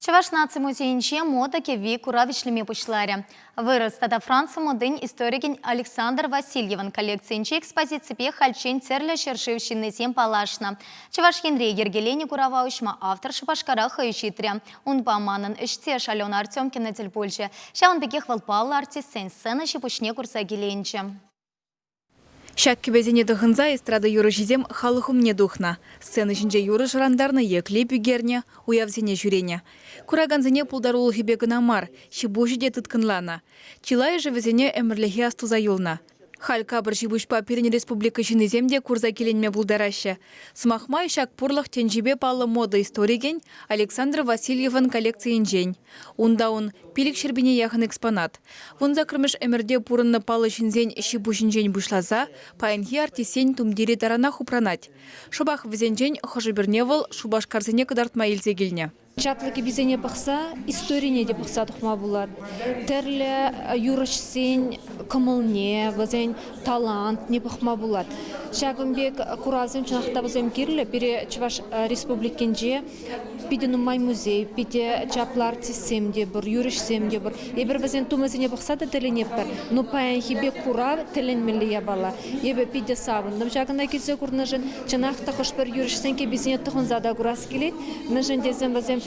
Чӑваш наци музейӗнче мода кӗвви курав ӗҫлеме пуҫларӗ. Вырӑс тата Франци модин историкӗн Александр Васильевӑн коллекцийӗнчи экспозиципе хальччен тӗрлӗ ҫӗршыв ҫыннисем паллашнӑ. Чӑваш Енре йӗркеленӗ курава уҫма автор Шупашкара хӑй ҫитрӗ. Унпа манӑн ӗҫтеш Алена Артемкина тӗл пулчӗ. Ҫавӑн пекех вӑл паллӑ артистсен сцена ҫи-пуҫне курса киленчӗ. Ҫак кӗпесене тӑхӑнса эстрада юрӑҫисем халӑх умне тухнӑ. Сцена ҫинче юрӑ шӑрантарнӑ е клип ӳкернӗ, уявсене ҫӳренӗ. Куракансене пултарулӑхӗпе кӑна мар, ҫи-пуҫӗ те тыткӑнланӑ. Чылайӑшӗ вӗсене ӗмӗрлӗхе астуса юлнӑ. Халь капӑр ҫи-пуҫпа пирӗн республика ҫыннисем те курса киленме пултараҫҫӗ. Сӑмах май, ҫак пурлӑх тӗнчипе паллӑ мода историкӗн Александр Васильевӑн коллекцийӗнчен. Унта ун пилӗк ҫӗрпине яхӑн экспонат. Вун саккӑрмӗш ӗмӗрте пурӑннӑ паллӑ ҫынсен ҫиппуҫӗнчен пуҫласа паянхи артистсен тумтирӗ таранах упранать. Шӑпах вӗсенчен хӑшӗ-пӗрне вӑл шупашкарсене кӑтартма илсе килнӗ. Чаплӑ кӗписене пӑхса историне те пӑхса тухма пулать. Тӗрлӗ юрӑҫсен кӑмӑлне, вӗсен талантне пӑхма пулать. Ҫакӑн пек куравсем чӑнах та вӗсем кирлӗ пире Чӑваш Республикинче. Питӗ нумай музей, питӗ чаплӑ артистсем те пур, юрӑҫсем те пур. Эпир вӗсен тумӗсене пӑхса та тӗлӗнетпӗр. Ну, паянхипе курав тӗлӗнмелле япала. Эпӗ питӗ савӑнтӑм ҫакӑна килсе курнӑшӑн. Чӑнах та хӑш-пӗр юрӑҫсен кӗписене тӑхӑнса та курас килет, мӗншӗн тесен вӗсем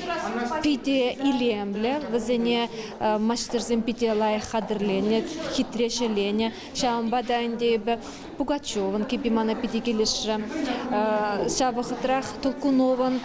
питӗ илемлӗ, вӗсене маҫтӑрсем питӗ лайӑх хатӗрленӗ, хитре ҫӗленӗ. Ҫавӑнпа та ӗнтӗ эпӗ Пугачевӑн кӗпи мана питӗ килӗшрӗ. Ҫав вӑхӑтрах Толкуновӑн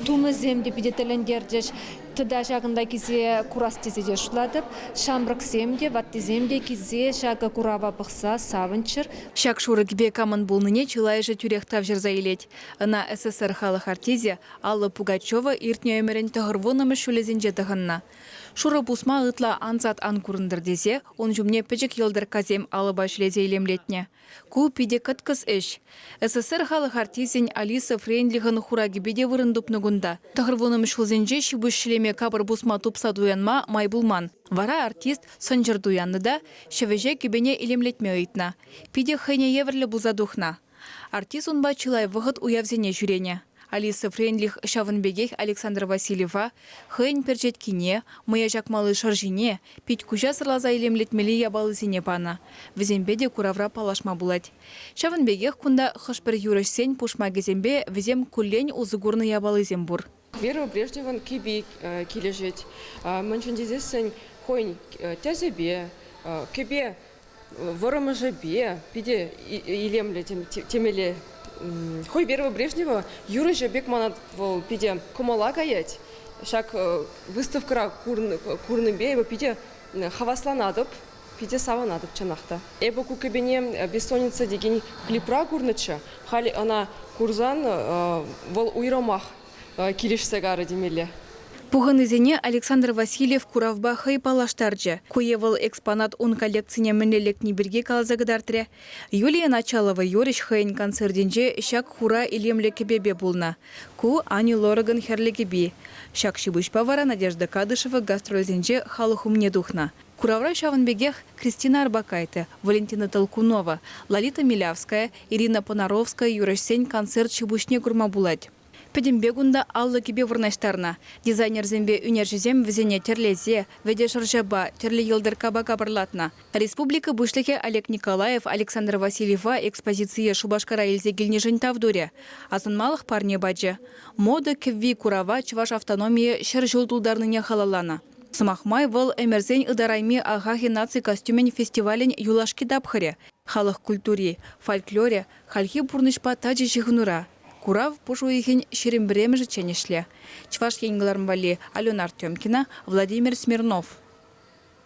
тумӗсем те питӗ тӗлӗнтерчӗҫ. Тата ҫакӑнта килсе курас тесе те шутлатӑп. Ҫамрӑксем те, ваттисем те килсе ҫакӑ курава пӑхса савӑнччӑр. Ҫак шурӑкӗпе камӑн пулнине чылайӑшӗ тӳрех тавҫӑрса илет. Ӑна СССР халӑх артисӗ Алла Пугачева иртнӗ ӗмӗрӗн тӑхӑрвуннӑмӗш ҫулӗсенче тӑхӑннӑ. Шурӑ пусма ытла ансат ан курӑнтӑр тесе ун ҫумне пӗчӗк йӑлтӑрккасем алӑпа ҫӗлесе илемлетнӗ. Ку питӗ кӑткӑс ӗҫ. СССР халӑх артисӗн Алиса Френдлихӑн хуракӗпе те вырӑн тупнӑ кунта. Тӑхӑрвуннӑ ҫулсенче ҫипуҫ ҫӗлеме капӑр пусма тупса туянма май пулман. Вара артист сӑнчӑр туяннӑ та ҫӗвӗҫе кӗпене илемлетме ыйтнӑ. Питӗ хӑйне евӗрлӗ пулса тухнӑ. Артист унпа чылай вӑхӑт уявсене ҫӳренӗ. Алиса Френдлих ҫавӑн пекех Александр Васильева хӑйӗн перчеткине, мӑя чакмалли шӑрҫине, пит-куҫа сӑрласа илемлетмелли япалисене панӑ. Вӗсемпе те куравра паллашма пулать. Ҫавӑн пекех кунта хӑш-пӗр юрӑҫсен пушмакӗсемпе вӗсем куллен усӑ курнӑ япалисем пур. Верба Брежневӑн кӗпи килӗшет. Мӗншӗн тесессӗн хӑйӗн тӗсӗпе, кӗпе вӑрӑмӑшӗпе питӗ илемлӗ темелле. Хӑй Верба Брежнева юрӑҫӑ пек манат вӑл питӗ кӑмӑла каять. Ҫак выставкӑра курнипе эпӗ питӗ хавасланатӑп. Питӗ савӑнатӑп, чӑнах та. Эпӗ ку кӗпене Бессонница текен клипра курнӑччӗ. Халь ӑна курсан вӑл уйрӑмах килӗшсе карӗ темелле. Пухӑннисене Александр Васильев куравпа хӑй паллаштарчӗ. Ку е вӑл экспонат ун коллекцине мӗнле лекни пирки каласа кӑтартрӗ. Юлия Началова юрӑҫ хӑйӗн концертӗнче ҫак хура илемлӗ кӗпепе пулнӑ. Ку, Ани Лоракӑн хӗрлӗ кӗпи. Ҫак ҫипуҫпа вара Надежда Кадышева гастрольсенче халӑх умне тухнӑ. Куравра ҫавӑн пекех Кристина Арбакайте, Валентина Толкунова, Лолита Милявская, Ирина Понаровская юрӑҫсен концерт ҫи-пуҫне курма пулать. Пӗтӗмпе кунта аллӑ кӗпе вырнаҫтарнӑ. Дизайнерсемпе ӳнерҫӗсем вӗсене тӗрлесе, вӗтӗ шӑрҫапа, тӗрлӗ йӑлтӑрккапа капӑрлатнӑ. Республика Пуҫлӑхӗ Олег Николаев Александр Васильева экспозицие Шупашкара илсе килнишӗн тав турӗ, асӑнмалӑх парне пачӗ. Мода кӗвви курава чӑваш автономийӗ ҫӗр ҫул тултарнине халалланӑ. Сӑмах май, вӑл ӗмӗрсен ытарайми Ахахи наци костюмӗн фестивалӗн юлашки тапхӑрӗ, халӑх культури, фольклорӗ, хальхи пурнӑҫпа тачӑ ҫыхӑнура. Курав пуш уйӑхӗн ҫирӗм пӗрремӗшӗччен ӗҫлӗ. Чӑваш Ен кӑларӑм валли Алена Артемкина, Владимир Смирнов.